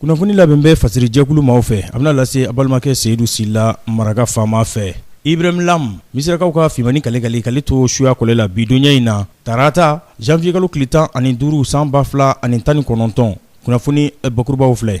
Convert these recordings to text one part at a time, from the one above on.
kunnafoni labɛn bɛ fasiri jɛkulu maaw fɛ a bɛna lase a balimakɛ seyidu sila maraka faama fɛ ibrahim lam misirakaw ka fimani kalekale kale to suya kɔlɛ la bi donya in na tarata janvier kalo tile tan ani duuru san ba fila ani tan ni kɔnɔntɔn kunnafoni bakurubaw filɛ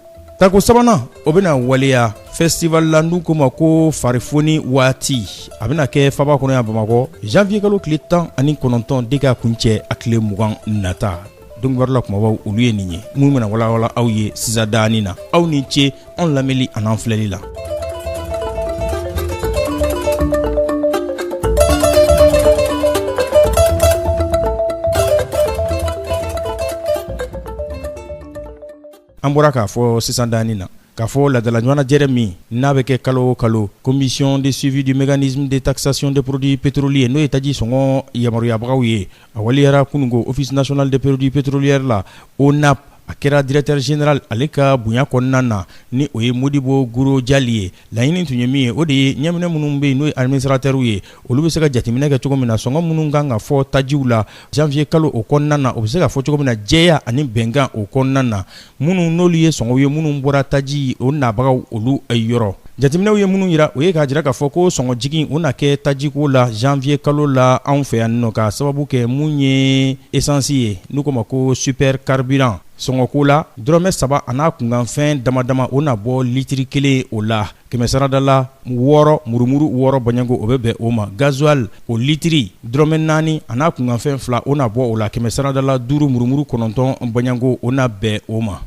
Tako sabanan o bɛna waleya festival la n'u ko ma ko farifoni waati a bɛna kɛ faaba kɔnɔ yan bamakɔ janvier kalo tile tan ani kɔnɔntɔn de ka kuncɛ a tile mugan nata don kibaru la kumabaw olu ye nin ye minnu bɛna walawala aw ye sisan danin na aw ni ce anw lamɛnli ani an filɛli la an bɔra k'a fɔ sisan danin na k'a fɔ laadala ɲɔgɔnna jɛrɛ min n'a bɛ kɛ kalo o kalo commission de suivi du mécanisme de taxation des produits pétroliers n'o ye taji sɔngɔ yamaruyabagaw ye a waliyara kunungo office national des produits pétroliers la ONAP a kɛra directeur général ale ka bonya kɔnɔna na ni o ye modibo guro jali ye laɲini tun ye min ye o de ye ɲɛminɛ minnu bɛ yen n'o ye administrateurs ye olu bɛ se ka jateminɛ kɛ cogo min na sɔngɔ minnu kan ka fɔ tajiw la janvier kalo o kɔnɔna na o bɛ se ka fɔ cogo min na jɛya ani bɛnkan o kɔnɔna na minnu n'olu ye sɔngɔw ye minnu bɔra taji o nabagaw olu yɔrɔ jateminɛw ye minnu yira o ye k'a jira k'a fɔ ko sɔngɔ jigin o na kɛ tajiko la janvier kalo la anw fɛ yan n'o k'a sababu kɛ mun ye esansi ye n'u ko ma ko super carburant sɔngɔko la dɔrɔmɛ saba an'a kunkanfɛn damadama o na bɔ litiri kelen o la kɛmɛsarada la wɔɔrɔ murumuru wɔɔrɔ bɔnɲɛko o bɛ bɛn o ma gazuali o litiri dɔrɔmɛ naani an'a kunkanfɛn fila o na bɔ o la kɛmɛsarada la duuru murumuru kɔnɔntɔn bɔnɲɛko o na bɛn o ma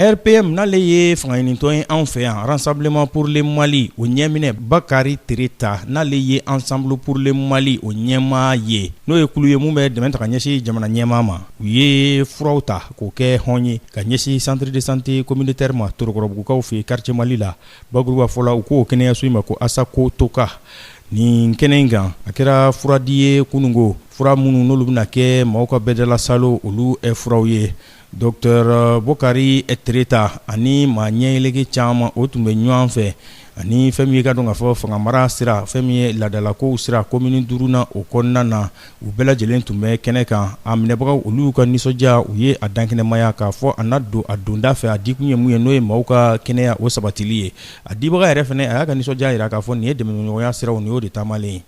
RPM n'ale ye fangaɲinitɔn ye anw fɛ yan Rassemblement pour le Mali o ɲɛminɛ bakari tereta n'ale ye Ensemble pour le Mali o ɲɛmaa ye n'o ye kulu ye min bɛ dɛmɛ ta ka ɲɛsin jamana ɲɛmaa ma u ye furaw ta k'o kɛ hɔn ye ka ɲɛsin centre de santé communautaire ma torokɔrɔbugukaw fɛ quartier Mali la bakuruba fɔ la u ko kɛnɛyaso in ma ko ASACOTOQUA nin kɛnɛ in kan a kɛra furadi ye kunungo fura minnu n'olu bɛna kɛ maaw ka bɛɛdala salo olu furaw ye Dɔtera bokari tereta ani maa ɲɛyɛlɛke caman o tun bɛ ɲɔgɔn fɛ ani fɛn min ye ka dɔn k'a fɔ fangamara sira fɛn min ye laadalakow sira komini duurunan o kɔnɔna na u bɛɛ lajɛlen tun bɛ kɛnɛ kan a minɛbagaw olu ka nisɔndiya u ye a dankɛnɛmaya k'a fɔ a na don a donda fɛ a dikun ye mun ye n'o ye maaw ka kɛnɛya o sabatili ye a dibaga yɛrɛ fɛnɛ a y'a ka nisɔndiya jira k'a fɔ nin ye dɛmɛɲɔgɔnya siraw nin y'o de taamalen ye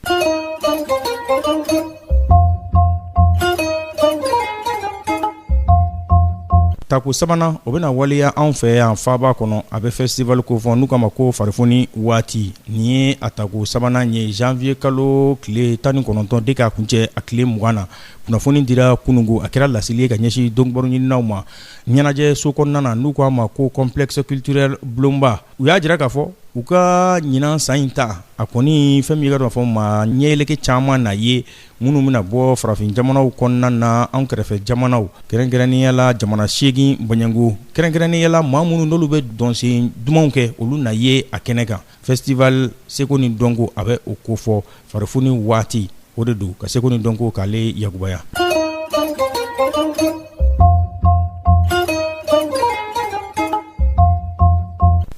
tako sabanan o bɛna waleya anw fɛ yan faaba kɔnɔ a bɛ festival ko fɔ n'u k'a ma ko farifoni waati nin ye a tako sabanan ye janviye kalo tile tan ni kɔnɔntɔn de k'a kuncɛ a tile mugan na kunnafoni dira kununko a kɛra laseli ye ka ɲɛsin donkibaru ɲininaw ma ɲɛnajɛ so kɔnɔna na n'u k'a ma ko complexe culturel Bulonba u y'a jira k'a fɔ u ka ɲinan san in ta a kɔni fɛn min ye i k'a dɔn k'a fɔ maa ɲɛyeleke caman na ye minnu bɛna bɔ farafin jamanaw kɔnɔna na anw kɛrɛfɛ jamanaw kɛrɛnkɛrɛnnenya la jamana seegin bɔɲɔgɔnko kɛrɛnkɛrɛnnenya la maa minnu n'olu bɛ dɔnsen dumanw kɛ olu na ye a kɛnɛ kan festival seko ni dɔnko a bɛ o ko fɔ farifoni waati o de don ka seko ni dɔnko k'ale yakubaya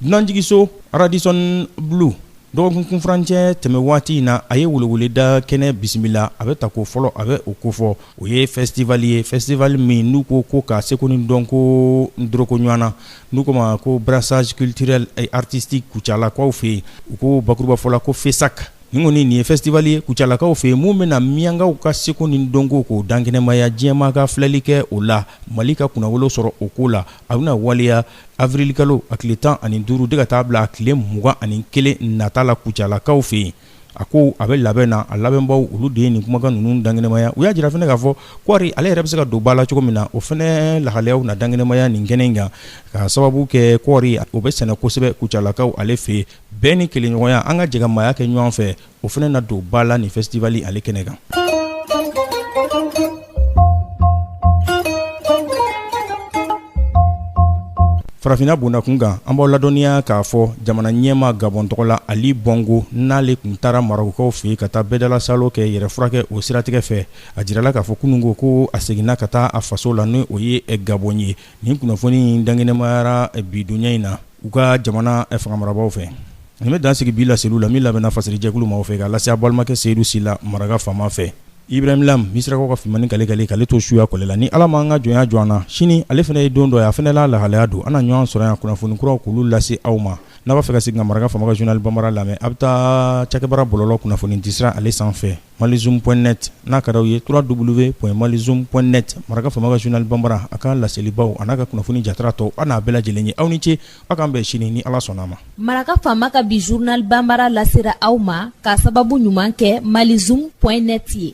dunanjigiso Radisson Blu dɔgɔkun kunfurancɛ tɛmɛ waati in na a ye weleweleda kɛnɛ bisimila a bɛ tako fɔlɔ a bɛ o ko fɔ o ye fɛsitival ye fɛsitival min n'u ko ko ka seko ni dɔnko doroko ɲɔgɔn na n'u k'o ma ko brassage culturel et artistique kucalakaw fɛ yen, u ko bakuruba fɔ la ko FESAC nin kɔni nin ye festival ye kucalakaw fɛ yen min bɛna minyankaw ka seko ni dɔnko k'o dankɛnɛmaya diɲɛmaa ka filɛli kɛ o la mali ka kunnawolo sɔrɔ o ko la a bɛna waleya avirilikalo a tile tan ani duuru de ka taa bila a tile mugan ani kelen nata la kucalakaw fɛ yen a ko a bɛ labɛn na a labɛnbaw olu de ye nin kumakan ninnu dankɛnɛmaya u y'a jira fɛnɛ k'a fɔ kɔɔri ale yɛrɛ bɛ se ka don ba la cogo min na o fɛnɛ lahalayaw na dankɛnɛmaya nin kɛnɛ in kan k'a sababu kɛ kɔɔri o bɛ sɛnɛ kosɛbɛ kucalakaw ale fɛ bɛn ni kelenɲɔgɔnya an ka jɛkamaaya kɛ ɲɔgɔn fɛ o fɛnɛ na don ba la nin fɛsitivali ale kɛnɛ kan farafinna bondakun kan an b'aw ladɔnniya k'a fɔ jamana ɲɛmaa gabɔn tɔgɔ la ali bɔngo n'ale tun taara marɔkukaw fɛ ka taa bɛɛdalasalo kɛ yɛrɛ furakɛ o siratigɛ fɛ a jirala k'a fɔ kununko ko a seginna ka taa a faso la ni o ye gabɔn ye nin kunnafoni in dankɛnɛmayara bidonya in na u ka jamana fanga marabagaw fɛ nin bɛ dan sigi bi laseliw la min labɛnna fasiri jɛkulu maaw fɛ k'a lase a balimakɛ Seyidu Sila maraka faama fɛ Ibrahim Lam misirakaw ka fimani kale kale k'ale to suya kɔlɛ la ni ala ma an ka jɔnya jɔ an na sini ale fana ye don dɔ ye a fana la lahalaya don an na ɲɔgɔn sɔrɔ yan kunnafoni kuraw k'olu lase aw ma n'a b'a fɛ ka segin ka maraka faama journal bambara lamɛn a bɛ taa cakɛbara bɔlɔlɔ kunnafoni disira ale sanfɛ malizoom.net n'a ka daw ye www.malizoom.net maraka faama ka journal bambara a ka laselibaw an'a ka kunnafoni jatara tɔw an'a bɛɛ lajɛlen ye aw ni ce aw k'an bɛn sini ni ala sɔnna a ma maraka faama ka bi journal bambara lasera aw ma k'a sababu ɲuman kɛ malizoom.net ye